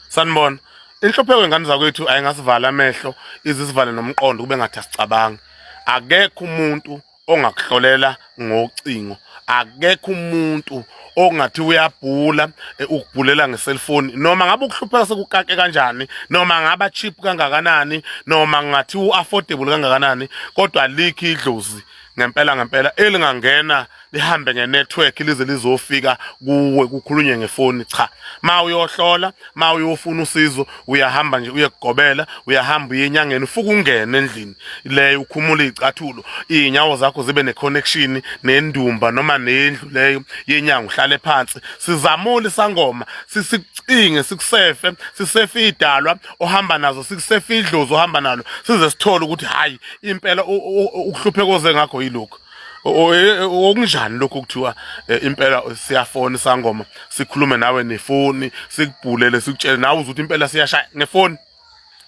sanibona inhlupheko ingane zakwethu ayingasivala amehlo izisivale nomqondo kube ngathi asicabangi akekho umuntu ongakuhlolela ngocingo akekho umuntu ongathi uyabhula eh, ukubhulela ngeselfoni noma ngabe ukuhlupheka sekukake kanjani noma ngaba cheap kangakanani noma ngathi uaffordable kangakanani kodwa likhi idlozi ngempela ngempela elingangena lihambe ngenetwork lize lizofika kuwe kukhulunywe ngefoni cha ma uyohlola ma uyofuna usizo uyahamba nje uyekugobela uyahamba uye enyangeni ufuke ungene endlini leyo ukhumula izicathulo izinyawo zakho zibe neconnection nendumba noma nendlu leyo yenyanga uhlale phansi sizamule sangoma sisicinge sikusefe sisefe idalwa ohamba nazo sikusefe idlozi ohamba nalo size sithole ukuthi hayi impela ukuhlupheka oze ngakho yilokho okunjani lokho kuthiwa eh, impela siyafona sangoma sikhulume nawe nefoni sikubhulele sikutshele nawe uzuthi impela siyashaya ngefoni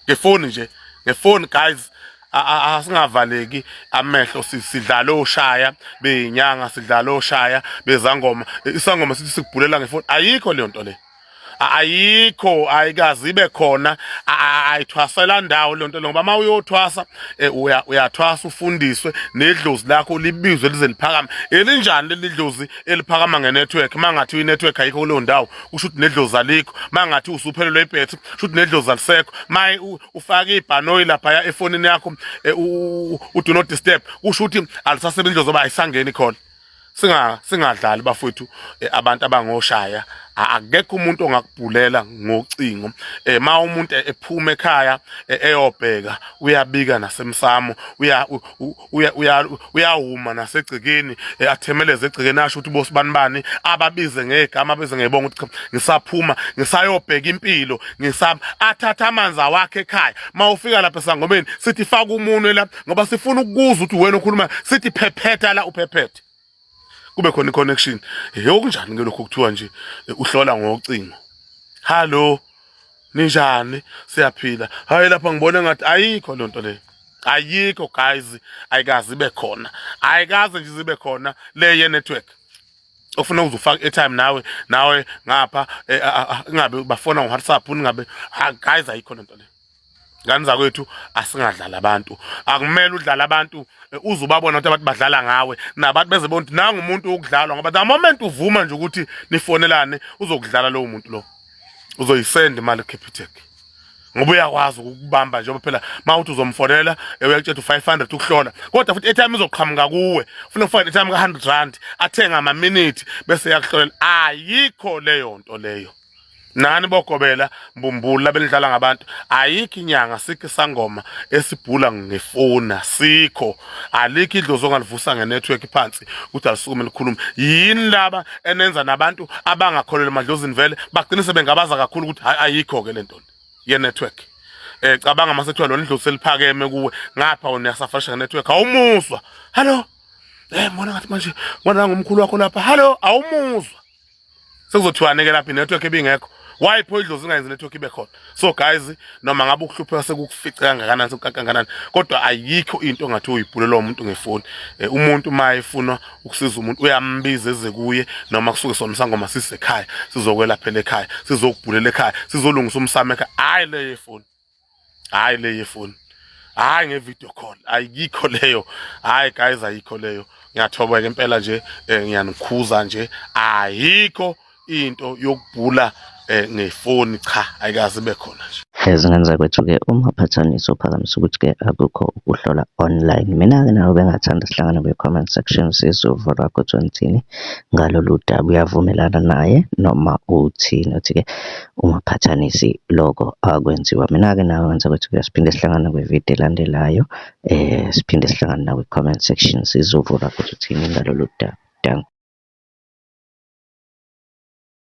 ngefoni nje ngefoni guys asingavaleki amehlo sidlala oshaya beyinyanga sidlala oshaya bezangoma isangoma sithi sikubhulela ngefoni ayikho leyo nto le ayikho ayikazi ibe khona ayithwasela ndawo lento ngoba uma uyothwasa e, uyathwasa ufundiswe nedlozi lakho libizwe lize liphakame elinjani leli dlozi eliphakama ngenetwork mangathi inetwork ayikho kuleyo ndawo kusho ukuthi nedlozi alikho mangathi usuphelelwe ibhethi kusho ukuthi nedlozi alisekho maye ufake ibhanoyi laphaya efonini yakho e, u do not disturb kusho ukuthi alisasebenzi dlozi oba ayisangeni khona singa singadlali bafowethu eh, abantu abangoshaya akekho umuntu ongakubhulela ngocingo eh ma umuntu ephuma ekhaya eh, eyobheka uyabika nasemsamo uya uya uyawuma nasegcikeni eh, athemeleze egcikeni asho ukuthi bosibani bani ababize ngegama abize ngebonga ukuthi ngisaphuma ngisayobheka impilo ngisaba athatha amanzi awakhe ekhaya ma ufika lapha sangomeni sithi faka umunwe lapha ngoba sifuna ukuzwa ukuthi wena ukhuluma sithi phephetha la uphephethe kube khona i-connection he okunjani ke lokhu kuthiwa nje eh, uhlola ngocingo hallo ninjani siyaphila hayi lapha ngibona ngathi ayikho loo nto leyo ayikho guys ayikazi ibe khona ayikazi nje zibe khona le ye-network ofuna uzufaka airtime nawe nawe ngapha eh, ingabe bafona ngo-whatsapp ningabe ah, guys ayikho lento le ngani zakwethu asingadlali abantu akumele udlala abantu eh, uze ubabona ukuthi abantu badlala ngawe nabantu beze bonke nangu umuntu wokudlalwa ngoba the moment uvuma nje ukuthi nifonelane uzokudlala lowo muntu lo uzoyisenda imali capitec ngoba uyakwazi ukubamba njengoba phela mawuthi uzomfonela eh, uyakutshela 500 ukuhlola kodwa futhi etime izoqhamuka kuwe ufuna ufake etime ka 100 rand athenga ama minute bese yakuhlolela ayikho leyo nto leyo nani bogobela mbumbulu labelidlala ngabantu ayikho inyanga sikho isangoma esibhula ngefona sikho alikho idlozi ongalivusa ngenetwork phansi ukuthi alisukume likhulume yini laba enenza nabantu abangakholelwa emadlozini vele bagcine sebengabaza kakhulu ukuthi hayi ayikho ke lento ye network eh cabanga mase kuthiwa lona idlozi seliphakeme kuwe ngapha wena uyasafarisha ngenetwork awumuzwa hallo eh mbona ngathi manje ngona ngomkhulu wakho lapha hallo awumuzwa sekuzothiwane ke lapha inetwork ebingekho why pho idlozi ingayenzi network ibe khona so guys noma ngabe ukuhlupheka sekukufice kangakanani sekukangakanani kodwa ayikho into ongathi uyibhulelwa umuntu ngefoni eh, umuntu uma efuna ukusiza umuntu uyambiza eze kuye noma kusuke sona sangoma sisekhaya sizokwelaphela ekhaya sizokubhulela ekhaya sizolungisa umsamo ekhaya hayi leyo efoni hayi le yefoni hayi ngevideo call ayikho leyo hayi guys ayikho leyo ngiyathoba ke impela nje eh, ngiyanikhuza nje ayikho into yokubhula eh, ngefoni cha ayikaze ibe khona nje ezingenza kwethu-ke uma phathanisa uphakamisa ukuthi-ke akukho ukuhlola online mina-ke nawe bengathanda sihlangane kwi-comment section sizovo lwakho ukuthi wenzini ngalolu daba uyavumelana naye noma uthini uthi-ke ungaqhathanisi loko akwenziwa. Mina-ke nawe ngenzela ukuthi ke siphinde sihlangane kwi-video elandelayo siphinde sihlangane nakwi-comment section sizovula ukuthi uthini ngalolu daba. Dankie.